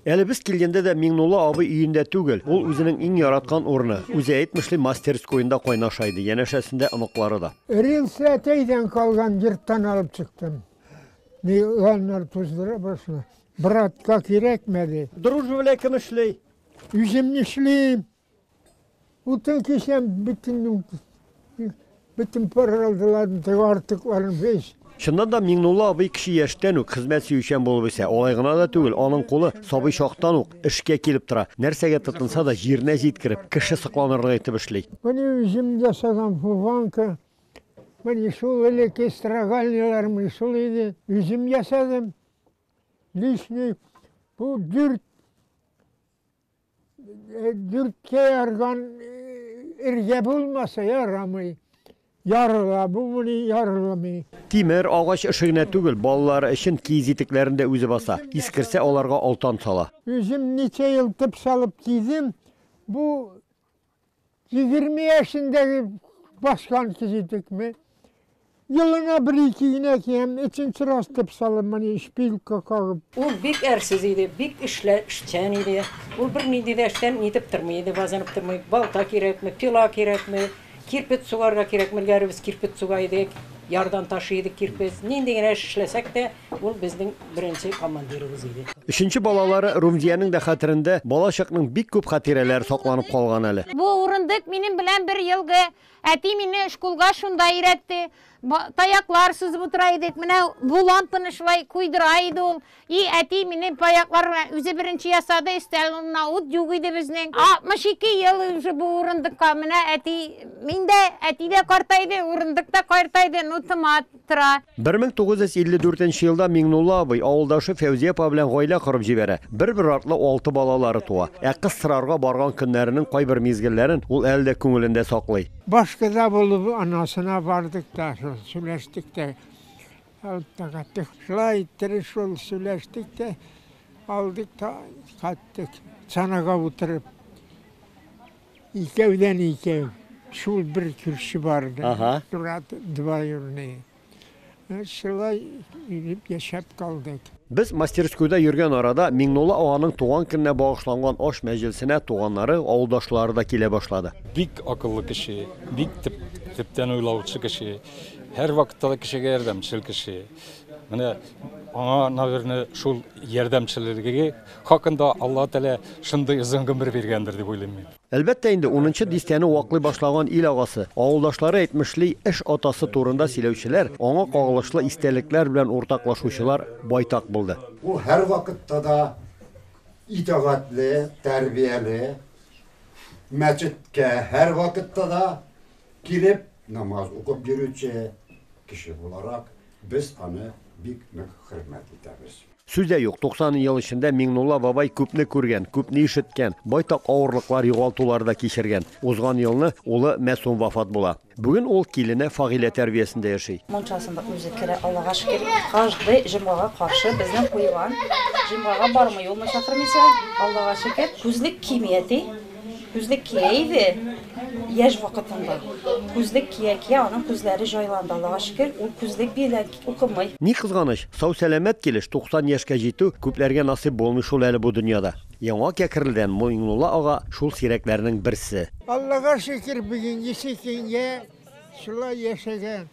Әле без килгәндә дә Миңнулла абый өендә түгел. Ул үзенең иң яраткан урыны, үзе әйтмешли, мастерскоенда кайнаша иде, янәшәсендә оныклары да. Рельсы әтәйдән калган йорттан алып чыктым. Миланнар туздыра башлы. Братка кирәкмәде. Дружба белән кем эшли? Үзем эшлим. Утын кешем бөтен бөтен паралдыларын, артыкларын весь. Чыннан да Миңнулла абый кеше яшьтән үк хезмәт сөючән булып үсә. Алай гына да түгел, аның кулы сабый чактан ук эшкә килеп тора. Нәрсәгә тотынса да җиренә җиткереп, кеше сокланырлык итеп эшли. Менә үзем ясаган фуванка, менә шул элекке строгальняларым шул иде. Үзем ясадым. Лишний бу дүрт Э, дүрткә ярган эргә э, булмаса ярамый. Ярыла, бу муни ярыламый. Тимер агач эше генә түгел, балалар өчен киез итекләрен дә үзе баса. Искерсә, аларга алтан сала. Үзем ничә ел тып салып кидем. Бу Егерме яшендәге баскан кизитекме, елына бер-ике генә киям, өченче раз дип салам, менә шпилька кагып. Ул бик әрсез иде, бик эшчән иде. Ул бернинди дә эштән нитеп тормый иде, базынып тормый. Балта кирәкме, пила кирәкме, кирпет сугарга кирәкме, элгәре без кирпет суга идек, ярдан ташый идек кирпет. Нинди генә эш эшләсәк тә, Ул безнең беренче командирыбыз иде. Өченче балалары Румзиянең дә хәтерендә бала чакның бик күп хатирәләре сакланып калган әле. Бу урындык минем белән бер елгы. Әти мине шкулга шунда өйрәтте. Таяклар сузып утыра идек. Менә бу лампаны шулай куйдыра иде ул. И әти мине таяклар белән үзе беренче ясады, өстәл урынына ут юк иде безнең. 62 ел уже бу урындыкка. Менә әти, мин дә, әти дә картайды, урындык та картайды, ну томат. тора. 1954 нче елда Миңнулла абый авылдашы Фәүзия апа белән гаилә корып җибәрә. Бер-бер артлы алты балалары туа. Ә кыз сорарга барган көннәренең кайбер мизгелләрен ул әле дә күңелендә саклый. Башкада булып анасына бардык та, шул сөйләштек тә. Алдык кайттык. Шулай иттереп шул сөйләштек тә, алдык та кайттык. Санага утырып. Икәүдән икәү. Шул бер күрше бар иде. Ага. Турат двоюрный. Шулай итеп яшәп калдык. Без мастерскойда йөргән арада Миңнулла аганың туган көненә багышланган аш мәҗлесенә туганнары, авылдашлары да килә башлады. Бик акыллы кеше, бик төп, төптән уйлаучы кеше, һәрвакытта да кешегә ярдәмчел кеше. Менә аңа, наверное, шул ярдәмчелеге хакында Алла Тәгалә шундый озын гомер биргәндер дип уйлыйм мин. Әлбәттә инде, унынчы дистәне ваклый башлаган ил агасы, авылдашлары әйтмешли, эш атасы турында сөйләүчеләр, аңа кагылышлы истәлекләр белән уртаклашучылар байтак булды. Ул һәрвакытта да итагатьле, тәрбияле, мәчеткә һәрвакытта да Килеп намаз укып йөрүче кеше буларак, без аны бик нык хөрмәт итәбез. Сүз дә юк, 90 ел эчендә Миңнулла бабай күпне күргән, күпне ишеткән, байтак авырлыклар, югалтулар да кичергән. Узган елны улы Мәсум вафат була. Бүген ул килене Фагилә тәрбиясендә яши. Мунчасын да үзе керә, Аллага шөкер. Каждый җомгага каршы безнең куелган. Җомгага бармый ул, мунча кермичә. Аллага шөкер, күзлек кими әти. Күзлек кия иде яшь вакытында. Күзлек кия-кия аның күзләре җайланды, Аллага шөкер, ул күзлек белән укымый. Ни кызганыч, сау-сәламәт килеш 90 яшькә җитү күпләргә насыйп булмый шул әле бу дөньяда. Яңа Кәкрелдән Муиңнулла ага шул сирәкләрнең берсе. Аллага шөкер, бүгенгесе көнгә шулай яшәгән.